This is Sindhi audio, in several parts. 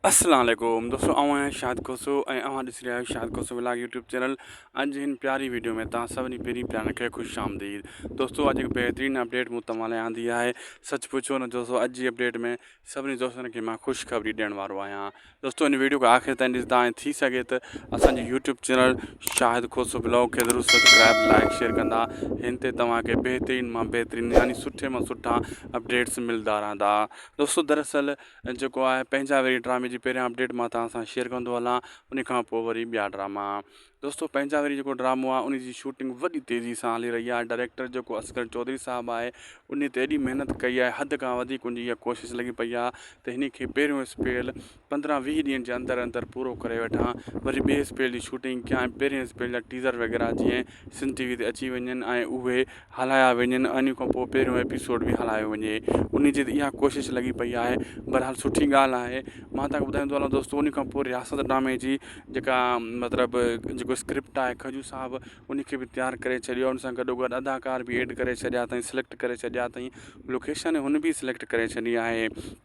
السلام عليڪم دوستو آئون آهيان شاد کوسو ۽ اوهان ڏسي رهيا آهيو Shad Khoso vlog YouTube channel اڄ جي هن پياري ويڊيو ۾ توهان سڀني پيرين پيارن کي خوش آمديد دوستو اڄ هڪ بهترين اپڊيٽ مون توهان لاء آندي آهي سچ پڇو نه دوستو اڄ جي اپڊيٽ ۾ سڀني دوستن کي مان خوش خبري ڏيڻ وارو آهيان دوستو هن ويڊيو کي آخر تائين ڏسندا ۽ ٿي سگهي ته اسان جي YouTube channel Shahid Khoso blog کي ضرور سبسڪرائب لائڪ شيئر ڪندا هن تي توهان کي بهترين مان بهترين يعني سٺي مان سٺا اپڊيٽس ملدا رهندا دوستو دراصل جيڪو آهي پنهنجا ويري ڊرامي جي پهريان اپڊيٽ مان توهان سان شيئر ڪندو هلان ان کان پوء وري ٻيا ڊراما دوستو پنهنجا ويري جيڪو ڊرامو آهي ان جي شوٽنگ وڏي تيزي سان هلي رهي آهي ڊائريڪٽر جيڪو اصغر چوڌري صاحب آهي ان تي ايڏي محنت ڪئي آهي حد کان وڌيڪ ان جي اها ڪوشش لڳي پئي آهي ته هن کي پهريون اسپيل پندرهن ويهه ڏينهن جي اندر اندر پورو ڪري وٺا وري ٻئي اسپيل جي شوٽنگ ڪيا ۽ پهرين اسپيل جا ٽيزر وغيره جيئن سنڌ ٽي وي تي اچي وڃن ۽ اهي هلايا وڃن انهي کان پوء پهريون ايپيسوڊ به هلايو وڃي انهي جي اها ڪوشش لڳي پئي آهي بهرحال سٺي ڳالهه آهي مان توهان کي ٻڌائيندو هلان دوستو انهي کان پوء رياست ڊرامي جي جيڪا مطلب جيڪو اسڪرپٽ آهي کجو صاحب انهي کي به تيار ڪري ڇڏيو ان سان گڏو گڏ اداڪار به ايڊ ڪري ڇڏيا اٿائين سليڪٽ ڪري ڇڏيا اٿائين لوڪيشن هن به سليڪٽ ڪري ڇڏي آهي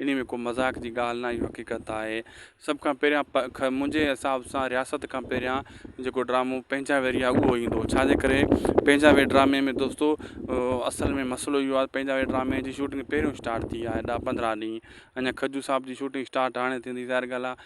انهيء ۾ ڪو مذاق جي ڳالهه ناهي اهو حقيقت آهي. سڀ کان پهريان خير منهنجي حساب سان رياست کان پهريان جيڪو ڊرامو پنهنجا ويريا اهو ايندو ڇا جي ڪري پنهنجا وير ڊرامي ۾ دوستو اصل ۾ مسئلو اهو آهي پنهنجا وير ڊرامي جي شوٽنگ پهريون اسٽارٽ ٿي آهي ڏهه پندرهن ڏينهن اڃا کجو صاحب جي شوٽنگ اسٽارٽ هاڻي ٿيندي ظاهر ڳالهه آهي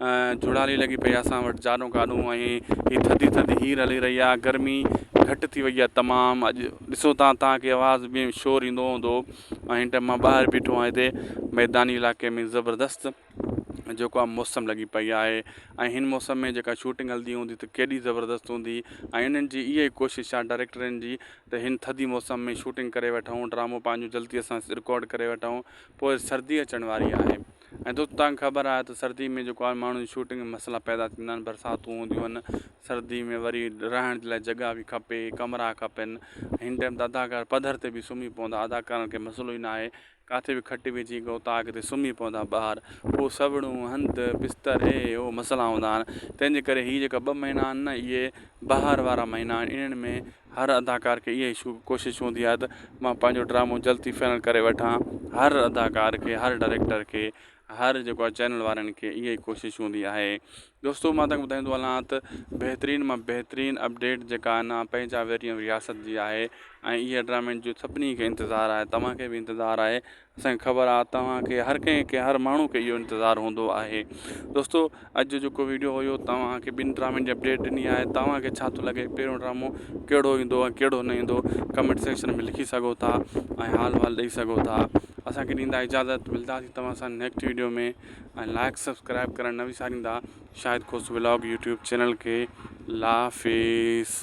جھڙالي لڳي پئي آ اسان وٽ جاڏون ڪاڏون ۽ ھي ٿڌي ٿڌي ھير ھلي رھي آ گرمي گھٽ ٿي وئي آ تمام اڄ ڏسو تان تانکي آواز ۾ شور ايندو ھوندو ۽ ھن ٽيم مان ٻاھر بيٺو آھيان ھتي ميداني علائقي ۾ زبردست جيڪو آ موسم لڳي پئي آھي ۽ ھن موسم ۾ جيڪا شوٽنگ ھلندي ھوندي ته ڪيڏي زبردست ھوندي ۽ انھن جي اھا ئي ڪوشش آ ڊاريڪٽرن جي ته ھن ٿڌي موسم ۾ شوٽنگ ڪري وٺون ڊرامو پنھنجو جلدي سان رڪارڊ ڪري وٺون پوء سردي اچڻ واري آھي ۽ دوستو توهان کي خبر آهي ته سردي ۾ جيڪو آهي ماڻهن جي شوٽنگ ۾ مسئلا پيدا ٿيندا آهن برساتون هونديون آهن سردي ۾ وري رهڻ جي لاء جڳهه بي کپي ڪمرا کپن هن ٽائيم ته اداڪار پڌر تي به سمهي پوندا اداڪارن کي مسئلو ئي ناهي ڪاٿي به کٽ وجهي گوتا اڳتي سمهي پوندا ٻاهر پوء سوڙون هنڌ بستر هي هو مسئلا هوندا آهن تنهنجي ڪري هي جيڪا ٻه مهينا آهن نه اهي بهار وارا مهينا آهن انهن ۾ هر اداڪار کي اهي ئي شوق ڪوشش هوندي آهي ته مان پنهنجو ڊرامو جلد ٿي فائنل ڪري وٺان هر اداڪار کي هر ڊائريڪٽر کي هر جيڪو آهي چينل وارن کي اهي ئي ڪوشش هوندي آهي دوستو مان تنگ ٻڌائيندو هلان ته بهترين مان بهترين اپڊيٽ جيڪا آهي نا پنهنجا ويريا رياست جي آهي ۽ اهي ڊرامن جون سڀني کي انتظار آهي توهان کي به انتظار آهي اسانکي خبر آ توهان کي هر ڪنهن کي هر ماڻهو کي اهو انتظار هوندو آهي دوستو اڄ جو جيڪو ويڊيو هيو توهان کي ٻن ڊرامن جي اپڊيٽ ڏني آهي توهان کي ڇا ٿو لڳي پهريون ڊرامو ڪهڙو ايندو ۽ ڪهڙو نه ايندو ڪمينٽ سيڪشن ۾ لکي سگهو ٿا ۽ حال وال ڏئي سگهو ٿا اسانکي ڏيندا اجازت ملداسي توهان سان نيڪسٽ ويڊيو ۾ ۽ لائق سبسڪرائب ڪرڻ نه وساريندا Shahid Khoso vlog YouTube channel کي لافيس